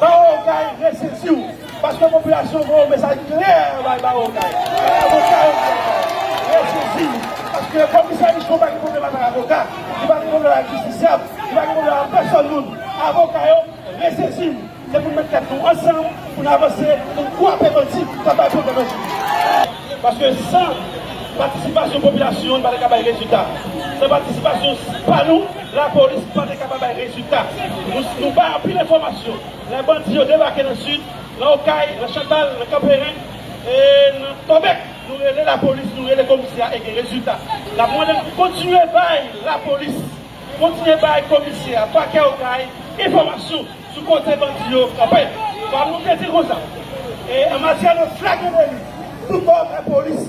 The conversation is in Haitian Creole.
Bawo kay resesi w paske popilasyon voye yon mesaj klè bay bawo kay ak avoka yo bawo kay resesi w paske komisè michon pa gen pwoblèm avèk avoka li pa gen pwoblèm avèk jistisyab li pa gen pwoblèm avèk pèsòn moun avoka yo resesi w se pou n met tèt nou ansanm pou n avanse pou n kwape bandi k ap bay pwoblèm nan jodi a paske san patisipasyon popilasyon nou pa ta ka bay rezilta san patisipasyon pa nou. Lapolis pa te kapab bay rezilta. Nou bay anpil enfòmasyon. Lè bandi yo debake nan Sid, nan Okay, nan Chantal, nan Kanperen, e nan Tòbèk, nou rele lapolis, nou rele komisyè e gen rezilta. N ap mande n pou kontinye bay lapolis, kontinye bay komisyè a, pakè Okay, enfòmasyon sou kote bandi yo kanpe. Fwa nou te di konsa. E an matyè de flagrant deli, tout bò, lapolis.